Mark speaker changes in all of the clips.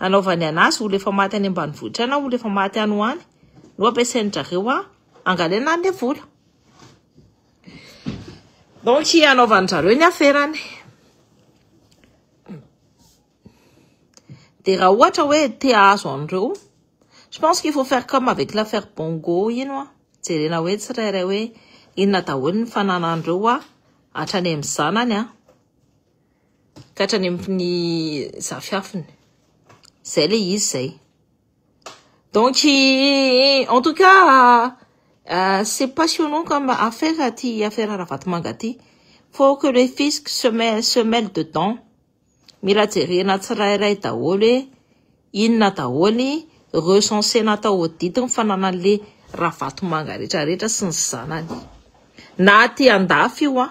Speaker 1: Hanaovany anazy olo efa maty any ambanivohitra na olo efa maty any ho any no ampiasain-drareo a angalaina any le vola donc hanaovan-drareo ny aferany de raha ohatra hoe te ahazo an'ireo je pense qu'il faut faire comme avec l'affaire bongo ino a jerena hoe tsirairay hoe inona daholo ny fananan'ireo a hatrany amin'ny zanany a ka hatrany amin'ny zafiafiny. Zay le izy zay. Donc, en tout cas, euh, c'est passionnant comme affaire aty affaire Ravatomanga aty. Faut que le fisc se mêle, se mêle dedans. Mila jerena tsirairay daholo hoe inona daholo ny recenser natao audit ny fananan'le Ravatomanga retraretra sy ny zanany. Na aty andafy io an.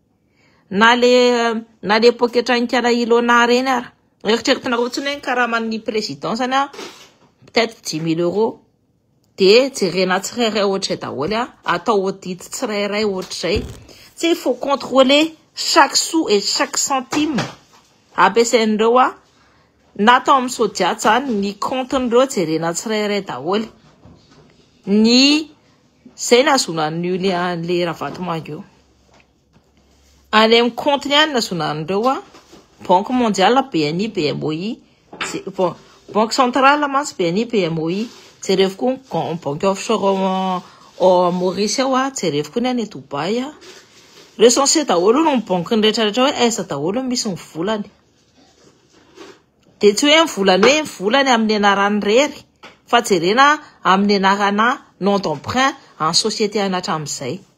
Speaker 1: Na le na le poketra nikala Ilona reny ara. Eritreretinareo tsony hoe ny karaman'ny président zany a peut-être 10 000 euros. Dia jerena tsirairay ohatr'izay daholo a, atao audit tsirairay ohatr'izay. Tsy il faut contrôler chaque sou et chaque centime ampiasain'ireo a na atao amin'ny sodiat zany ny compte-n'ireo jerena tsirairay daholo. Ny zay nahazoana an'io le an'le Ravatomanga io. Any amin'ny compte-ny any nahazoana an'ireo an, banque mondiale, BNI, BMOI, banque centrale mantsy BNI, BMOI, jerevo koa ny com- banque offshore ao am- ao à Maurice ao an, jerevo koa ny any Dubaï an, recensé daholo aloha ny banque-ny retraretra hoe aiza daholo no misy ny volany, dia tsy hoe ny volany hoe ny volany amin'ny anarany irery fa jerena amin'ny anarana nom d'emprunt an'ny société-ny hatramin'izay.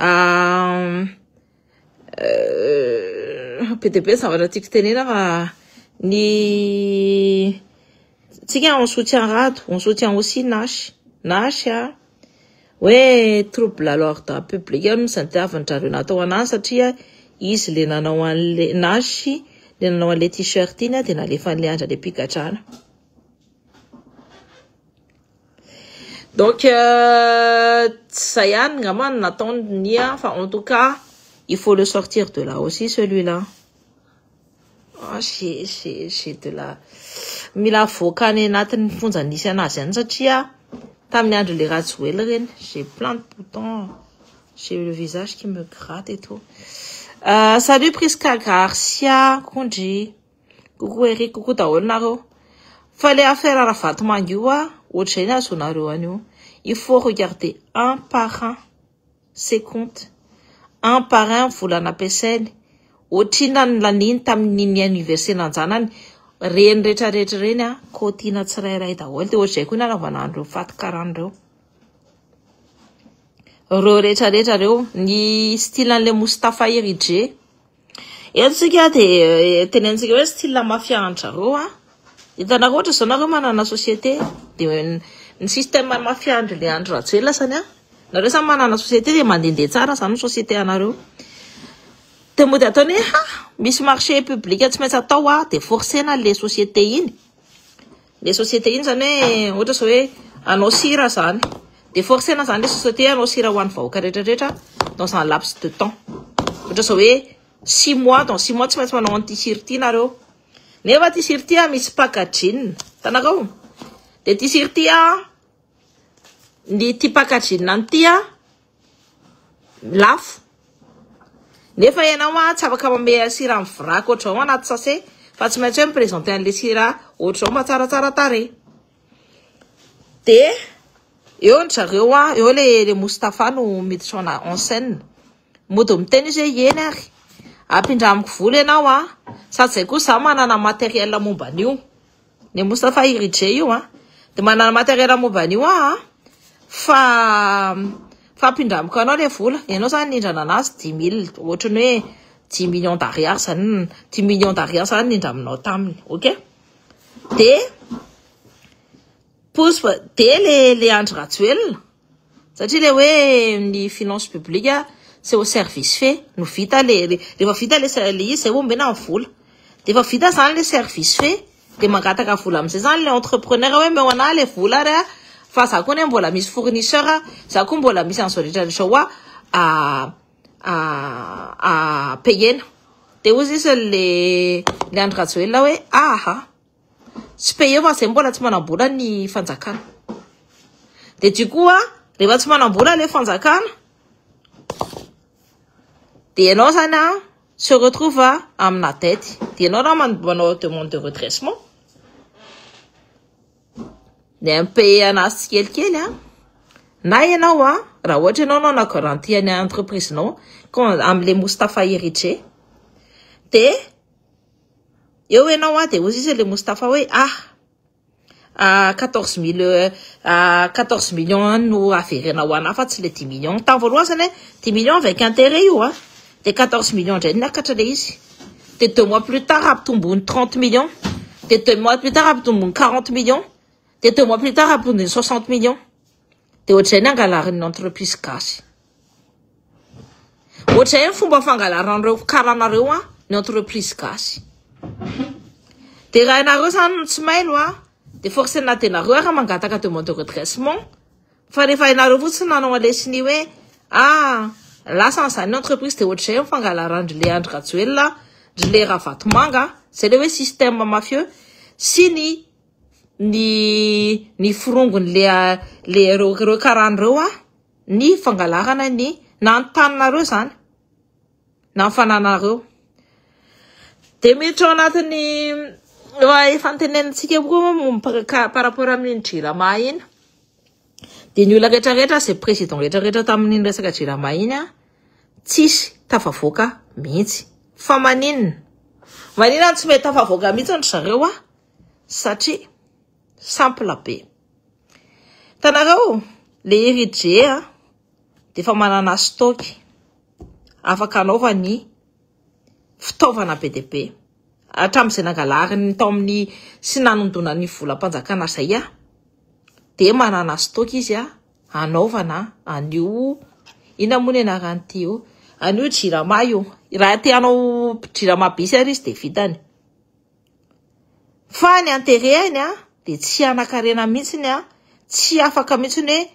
Speaker 1: Euh, euh, be dia be ny zavatra tiako tenena fa ny tsika on soutien rado on soutien aussi nash nash a hoe trouble à l'ordre public eo misy ny diavin-drareo natao an'azy satria izy le nanao an'le nash le nanao an'le t-shirt iny a dia nalefan'le andra le mpigadrana Donc tsy zay ihany ngamba no nataony Nia fa en tout cas il faut le sortir de là aussi celui-là. Ah j'ai j'ai j'ai de la mila avoaka any anatin'ny fonja nisy anazy any satria tamin'ny andron'le Rajoel ireny j'ai plein de boutons j'ai le visage qui me gratte et tout. Euh, salut Prisca Garcia, Kondry. Coucou Eric, coucou daholo nareo. Fa le affaire Ravatomanga io a, ohatr'izay no ahazoanareo an'io. Il faut regarder un par un ses comptes, un par un ny vola nampiasainy, ohatrinona ny laniny tamin'iny anniversaire anjanany, ireny retraretra ireny a, kaotiana tsirairay daholo, dia ohatr'izay koa no anaovana an'ireo fatin-karana ireo. Ireo retraretra ireo, ny style an'ilay Moustapha Herije. Eto tsika dia tenentsika hoe style mafia an-dRareo a. Hitanareo ohatra izao nareo manana société dia ny système mafia an-dry le Andry Rajoelina zany a, nareo samy manana société dia mandehandeha tsara zany ny société anareo. Dia mody ataony hoe ha misy marché public tsy maintsy atao a, dia forcer-na le société iny. Le société iny zany hoe ohatra zao hoe hanao sira zany de forcena zany le société hanao sira ho an'ny vahoaka rehetra rehetra dans un laps de temps ohatra zao hoe six mois dans six mois tsy maintsy manao an'ity sira ity nareo nefa ity sira ity misy packaging tanakao de ity sira ity ny ity packaging an'ity lafo nefa ianao a tsy afaka mameha sira amin'ny vrac ohatrao anaty sase fa tsy maintsy hoe mipresenter an'le sira ohatrao mba tsaratsara tarehy de eo ny zareo a eo le le Moustapha no miditra en scène mody miteny izy hoe eny ary ampindramiko vola ianao a sady zay koa za manana matériel momba an'io Ny Moustapha Iridjé io an, dia manana materiel momba an'io aho an, fa fa ampindramiko anao ilay vola, ianao izany nindrana anazy dix mille, ohatry ny hoe dix millions d'ariary izany, dix millions d'ariary izany nindraminao taminy, ok? Dia pousse, dia le le Andry Rajoelina, Satria le hoe ny finance publique c'est au service fait no vita le rehefa vita le le izy zay vao omena ny vola. De efa vita zany le service fait de mangataka vola amizay zany le entrepreneur hoe omeo anah le vola ary a fa za koa anie mbola misy fournisseur a, za koa mbola misy anzao rehetra rehetra zao a a payena. De hoy sisa le le Andry Rajoelina hoe aha. Tsy payer fa zay mbola tsy manambola ny fanjakana. Dia du coup an, rehefa tsy manambola ilay fanjakana, dia ianao zany an, se retrouve amina dette. Dia ianao raha man- manao demande de redressement, ny impayer anazy tsikelikely an, na ianao an, raha ohatra ianao no hanao garantie an'ny entreprise-nao, ko amin'ilay Moustapha Eritrea, dia Eo ianao a, dia hoy izy ilay Moustapha hoe ah, ah, quatorze mille, ah, quatorze millions any no averenao ho anà fa tsy ilay dimy millions. Tamin'ny voalohany izany hoe dimy millions avec intérêt io a, dia quatorze millions indray niakatra ilay izy. Dia deux mois plus tard ampitombony trente millions, dia deux mois plus tard ampitombony quarante millions, dia deux mois plus tard ampitombony soixante millions. Dia ohatr'izay ny angalarin'ny entreprise gasy. Ohatr'izay ny fomba fangalaran'ireo karana ireo an, ny entreprise gasy. Dia raha ianareo izany no tsy mailo an, dia forcena dia nareo ary mangataka demande de redressement, fa rehefa ianareo fotsiny no hanao an'ilay sonia hoe ah lasa an'izany ny entreprise dia ohatr'izay ny fangalaran'dry le Andry Rajoelina, ndry le Ravatomanga, izay ilay hoe système mafieux sy ny ny ny forongony le le reo reo karana reo a ny fangalarana ny na ny taninareo zany na ny fananareo de miditra ao anatin'ny efa ntenenintsika koa moa momba par rapport amin'iny jirama iny de ny olona rehetra rehetra ze président rehetra rehetra tamin'iny resaka jirama iny a tsisy tafavoaka mihitsy fa maninona maninona no tsy mety tafavoaka mihitsy ry zareo a Satria simple be. Hitanareo le Eridge dia efa manana stock afaka anaovany fitaovana be dia be hatramin'izay nangalariny tao amin'ny sy nanondonany volam-panjakana izay dia manana stock izy anaovana an'io inona moa ny anaran'ity io an'io jirama io. Raha te hanao jirama be izy ary izy dia vitany. Fa ny anterehany a, dia tsy hanankarena mihitsy ny a, tsy afaka mihitsy ny hoe,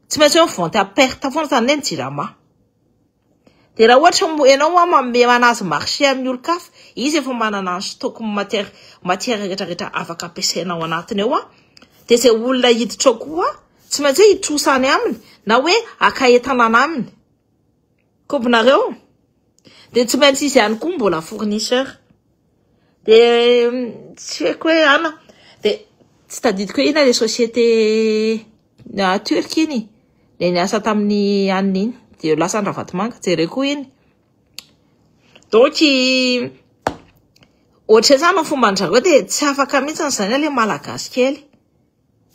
Speaker 1: tsy maintsy hoe vente à perte foana izany ilay ny jirama. Dia raha ohatra moa ianao moa manome manazy marché amin'ny olon-kafa, izy efa manana ny stock ny matière, matière rehetra rehetra afaka ampiasaina ao anatiny ao a, dia izay olona hiditra ao koa, tsy maintsy hoe hitrosa any aminy na hoe haka entana any aminy. Kobonareo de tsy maintsy izy ihany koa mbola fournisseur de tsy haiko hoe ana de tsy tadidiko hoe ina le société na turque iny le niasa tamin'ny anona iny de lasa any Ravatomanga jereko iny donc ohatry ny hoe zany ny fomban-dry zareo de tsy afaka mihitsy zany le malagasy kely.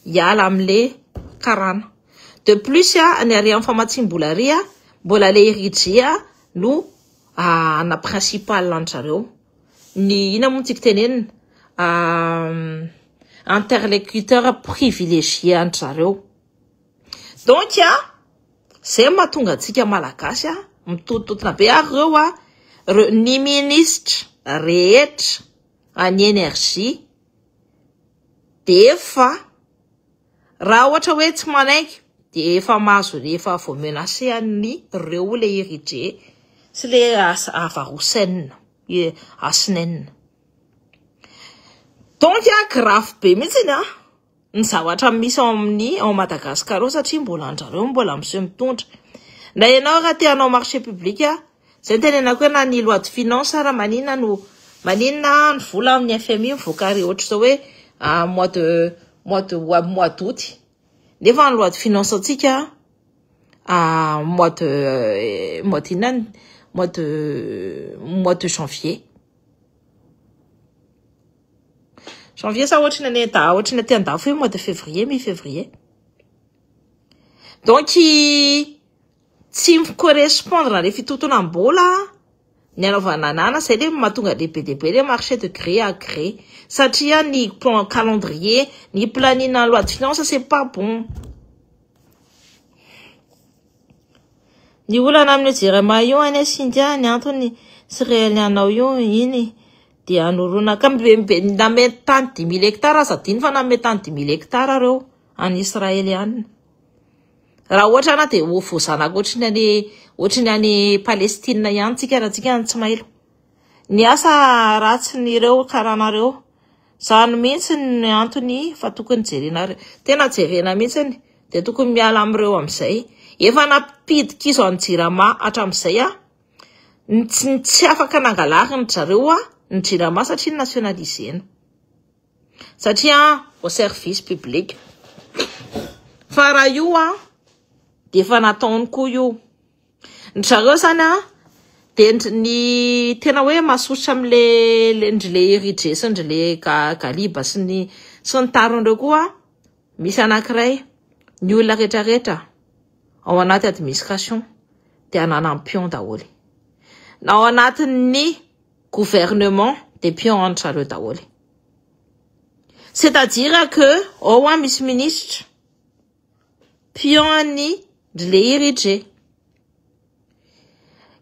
Speaker 1: hiala amle karana. De plus ny hare am famatsiam-bola hare mbola le Rijea no ana principal an-dry zareo. Ny inona moa no tiako tenenina interlecuteur privilegié an-dry zareo. Donc zay no mahatonga antsika malagasy mitontotona be ary reo a ny ministra rehetra any energie. Dia efa. Raha ohatra hoe tsy manaiky dia efa mahazo efa vao menace an'i reo le Iridje sy le Havarosen Hasinen. Donc grave be mihitsiny an ny zavatra misy ao amin'ny ao Madagascar ao satria mbola an-dry zareo mbola miseho mitondra. Na ianao raha te hanao marché public Zay nitenenako hoe na ny loi de finance ara manina no manina ny vola amin'ny FMI mivoaka ary ohatra zao hoe mois de mois de mois d'août nefa ny loi de finance antsika mois de eh, mois de inona mois de mois de janvier janvier sa ohatra ny ane da ohatra ny aty andafy hoe mois de février mi février donc Tsy mi correspondre le fitotonam bola ny anaovana anana zay le matonga le be dia be le marche de gré à gré satria ny calendrier ny planning na loi de finance c'est pas bon ny olana amin'io jirama io anie singa ny antony tsy réel anao io iny de anorona ka nanome tany dimy mille hectare aza adino fa nanome tany dimy mille hectare reo any israeliana Raha ohatra na dia ho voazanaka ohatry ny any ohatry ny any Palestina ihany tsika raha tsika no tsy mailo. Ny asa ratsin'ireo karanareo. Zany mihitsy ny antony fa tokony jerena tena jerena mihitsy ny dia tokony miala amin'ireo amin'izay. Efa nampidi-kizo an'i Jirama hatramin'izay aho. Ny tsy ny tsy afaka nangalariny zareo aho ny Jirama satria nationalisena. satria au service public fa raha io a dia efa nataony koa io ny zareo zany a dia ny tena hoe masosotra amle ndry le eridre sy ndry le galiba sy ny sy ny tariny reo koa misy anankiray ny olona retraretra ao anaty administration dia ananany pion daholo na ao anatin'ny Gouvernement de pion any trareo daholo. C'est à dire que ao an misy ministra pion an'ny ndry leiry dry.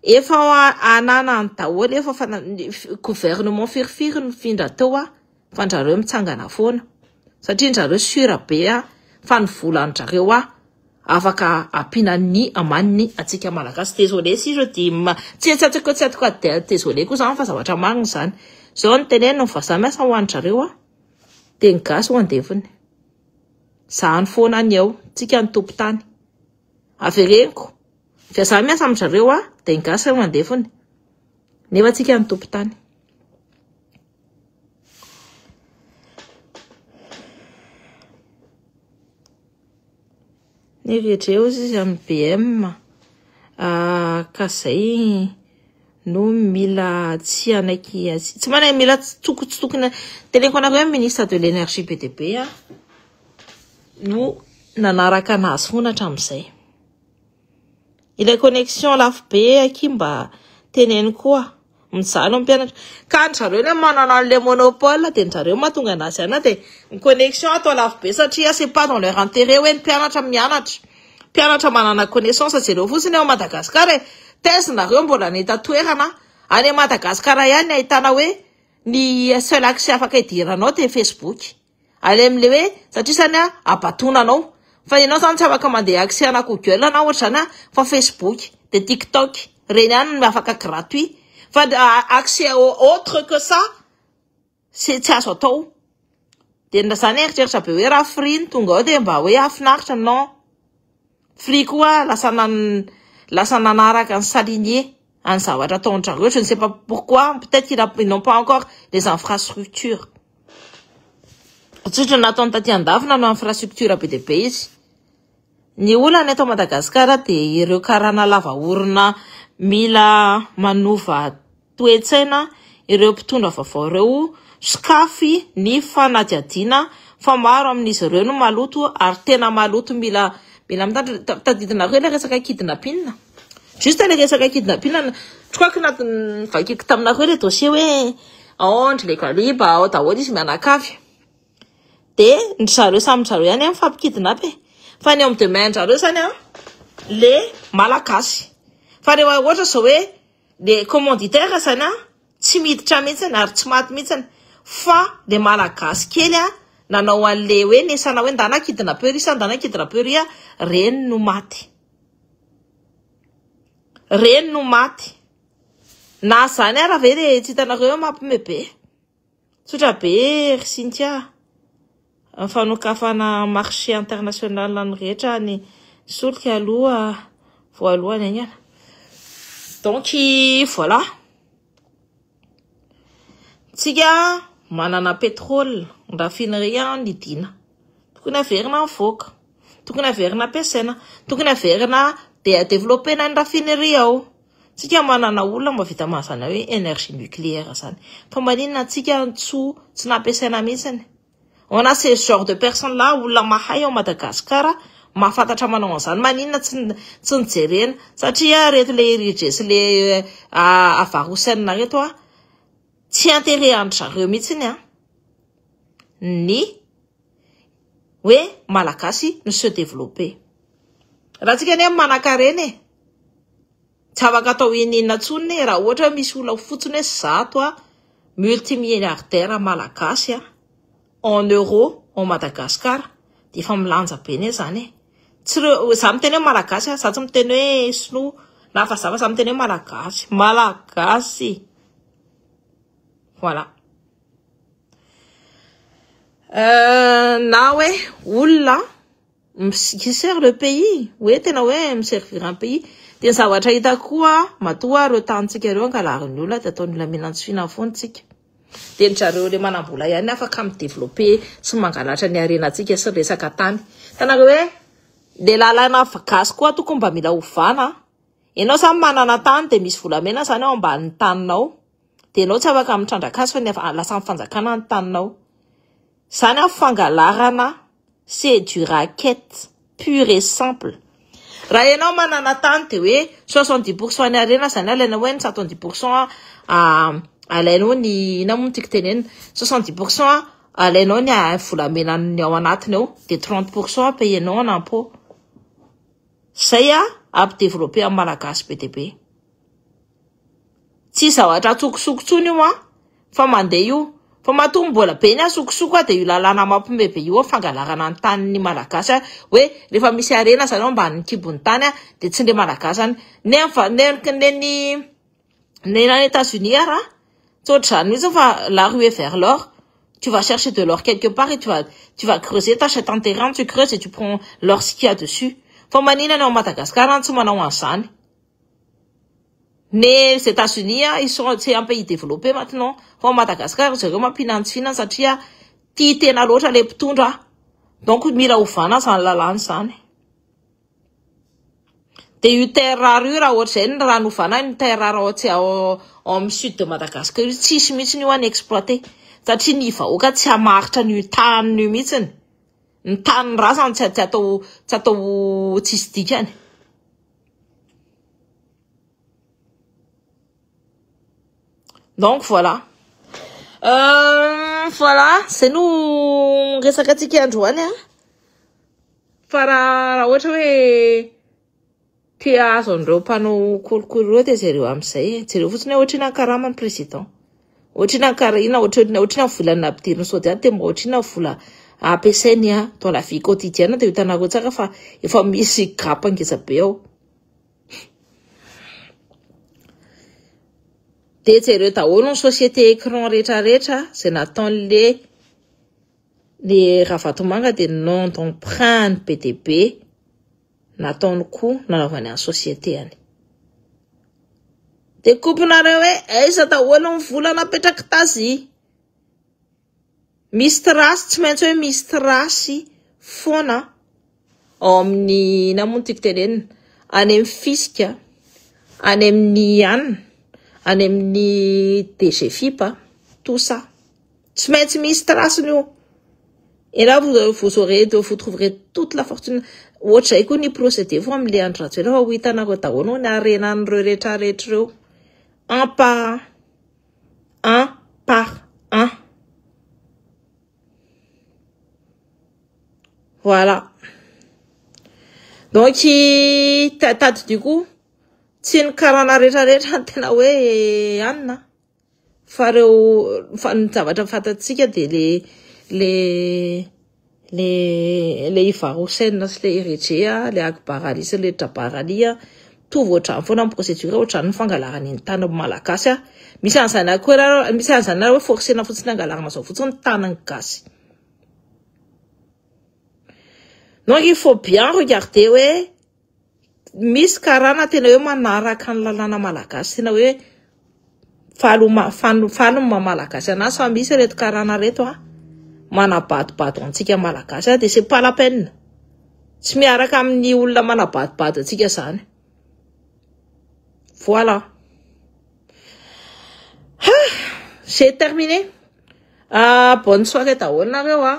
Speaker 1: Efa ananany daholo efa fa gouvernement firifiry nifindra teo an. fa ndrareo mitsangana foana satria ndrareo sur be a fa ny vola ndrareo a afaka ampiana ny amaniny atsika malagasy désolé si je dis ma tsy tsy atoko tsy atoko désolé koa zany fa zavatra marina zany zao ny teneniny vazaha miasa ho andrareo a dia ny gasy ho andevony zany foana ny eo tsika ny tompo tany avereniko vazaha miasa amin-dRareo a dia ny gasy ho andevony nefa tsika ny tompo tany Ny vedreo izy izy amin'ny BM, ah, ka zay no mila tsy hanaiky azy. Tsy manaiky mila tsy toko tsy tokony teneniko anareo hoe ministre de l'énergie be dia be aho no nanaraka anazy foana hatramin'izay. Ilay connexion lafo be akia mba teneno koa. Mijaly ny mpianatra. Ka an-dry zareo ilay manana an'ilay monopole dia an-dry zareo no mahatonga an'azy anona dia ny connexion atao lafo be satria c'est pas dans leur intérêt hoe ny mpianatra mianatra. Mpianatra manana connaissance jereo fotsiny ao Madagascar e. Taiza nareo mbola any an-toerana? Any Madagascar ihany no ahitana hoe ny seul accès afaka idiranao dia facebook. Alem le hoe satria zany a abatona anao fa ianao zany tsy afaka mandeha accès ana google anao ohatra zany a fa facebook de tiktok ireny ihany no afaka gratuit fa accès autre que ça tsy tsy azo atao de zany eritreritra be hoe raha free no tonga ao de mba hoe hahafinaritra non. Free koa lasa nan lasa nanaraka an'i Salinie an'i zavatra ataon-dRareo je ne sais pas pourquoi peut-être qu'il a ils n'ont pas encore les infrastructures tsotra nataony taty an-dafy nanao infrastructure be dia be izy. Ny olana eto Madagasikara dia ireo karana lava orona mila manova toe-tsaina ireo mpitondra vaovao ireo, sokafy ny fanadihadiana fa maro amin'izy ireo no maloto ary tena maloto mila mila mitandrina, tadidina koa ilay resaka kidnapping, juste ilay resaka kidnapping, je crois que nat- novakiako taminareo ilay dossier hoe ao an-dry Legaliba, ao daholo izy mianakavy, de ndry zareo samy ndry zareo ihany an mifampikidnap e, fa ny eo amin'ny deux main-dry zareo zany an le Malagasy, fa rehefa ohatra zao hoe. Dia commanditaire zany an, tsy miditra mihitsy ary tsy maty mihitsy fa le malagasy kely an nanao anle hoe nesana hoe ndana kidina peur sa ndana kidina peur an, reny no maty, reny no maty, na zany ara ve le tsy hitanareo hoe mampme be. Tsotra be ry Cynthia a! Ny fanokafana marché international ny rehetra ny solika aloha voalohany haingana. Donc voilà! Tsika manana pétrole, ny raffinerie an nidiana, tokony haverina mivoaka, tokony haverina ampiasaina, tokony haverina de-developpena ny raffinerie ao. Tsika manana olona mba vita mazana hoe energie nucléaire zany fa maninona antsika ntsou tsy nampiasaina mihitsiny on a ces genre de personne là olona mahay ao Madagascar mahafantatra manao an'izany maninona tsy tsy nijerena satria reto le irije sy le ah, avarosainina reto ah tsy intérêt an-dry zareo mihitsiny an ny hoe malagasy mi se developper. Raha antsika anie manankarena e! Tsy afaka atao ininona intsony e! Raha ohatra hoe misy olona fotsiny hoe zato a multimilliardaire malagasy a en euro en Madagascar dia efa milanja be anie zany e! Tsy reo, za miteny hoe malagasy a, za tsy miteny hoe sinoa na vazaha fa za miteny hoe malagasy, malagasy! Voilà. Euh, na hoe olona qui sert le pays hoe tena hoe miservir un pays dia ny zavatra hita koa matoa ireo tanintsika ireo ankalaron'ny olona dia ataon'ny olona mihinantsy fihinana foana tsika dia ny zareo le manambola ihany afaka mi développer sy mangalatra ny harenantsika sy ny resaka tany tanareo hoe le lalana gasy koa tokony mba mila ovana ianao zany manana tany dia misy volamena zany ao ambanin'ny taninao Dia ianao tsy afaka mitrandraka azy fa ny lasan'ny fanjakana ny taninao. Izany an, fangalarana c'est du racket pure et simple. Raha ianao manana tany dia hoe soixante dix pour cent ny harena izany alainao hoe ny soixante dix pour cent alainao ny inona moa no tiako tenenina, soixante dix pour cent alainao ny volamena ny ao anatiny ao dia trente pour cent payenao en impôt. Izay an, ampideveloper ny Malagasy be dia be. Tsy zavatra an-tsokosoko intsony io an! Fa mandeha io. Fa matoa mbola be ny an-tsokosoko an, dia io lalàna mampiomehy be io an, fangalarana ny tanin'ny Malagasy an, hoe rehefa misy harena izany eo ambanin'ny kibon'ny tany an, dia tsy indray Malagasy izany. Ny any va- ny any nen'ny ny any Etats Unis ary an, tsy ohatr'izany mihitsy fa la ruée vers l'or, tu vas chercher de l'or quelque part et tu vas tu vas creuser, tu achètes un terrain, tu creuses et tu prends l'or ce qu'il y a dessus. Fa maninona ny ao Madagasikara no tsy manao an'izany? Mes Etats Unis ils sont c'est un pays développé maintenant fa ao Madagascar ry zareo mampihinantsina satria tia tena loatra ilay mpitondra donc mila ovana izany lalàna izany dia io terre rare io raha ohatr'izay ny rano ovana any terre rare ao tsy ao amin'ny sud de Madagascar io tsisy mihitsy io any exploiter satria ny vahoaka tsy hamaritra an'io taniny io mihitsy ny tanin'ny razany tsy atao tsy atao tsisy dikany donc voilà euh, voilà zay no resaka antsika androany a fa raha raha ohatra hoe te azo an'ireo mpanao kolikoly ireo dia jereo amin'izay jereo fotsiny hoe ohatrina ny karama ny président Ohatry ny ankarahina, ohatry ny ohatry ny vola nampidiriny sody any dia mba ohatry ny vola ampiasainy dans la vie quotidienne dia hitanareo tsara fa efa misy gap ngeza be ao. Dia jereo daholo ny société écran rehetra rehetra izay nataon'le le Ravatomanga dia nom d'emprunt ny be dia be. Nataony koa nanaovany any société any. Dia kopinareo hoe aiza daholo ny vola napetrak'i Tazy. Misy trace tsy maintsy hoe misy trace foana ao amin'ny inona moa ny tiako tenenina any amin'ny fisc, any amin'ny an, any amin'ny DGFIP, tout ça. Tsy maintsy misy traceny io. Et là vous, vous aurez de, vous trouverez toute la fortune. Ohatr'izay koa ny procédé fo amin'ilay Andry Rajoelina fa ho hitanareo daholo ny harenan'ireo rehetra rehetra ireo. Un par un. Un par un. Voilà. Donc tadidio koa tsy ny karana rehetra rehetra no tena hoe anina. Fa reo fa ny zavatra fantatsika dia le le le le Ivar Hussein sy le Eritrea, le Akbar Ali sy le Jabbar Ali mitovy ohatrany foana ny procédure ohatrany ny fangalarana iny tany malagasy a, misy an'izany ihany koa ianareo misy an'izany ianareo hoe forcena fotsiny hangalarana zao fotsiny ny tanin'ny gasy. Donc il faut bien regarder hoe. Misy karana tena hoe manaraka ny lalàna malagasy tena hoe faly ho ma- fan- faly ny maha malagasy anazy fa misy ireto karana ireto an, manabadobado antsika malagasy an, dia c'est pas la peine. Tsy miaraka amin'ny olona manabadobado antsika izany. Voilà. Ha! J'ai terminé. Bonne soirée daholo nareo an.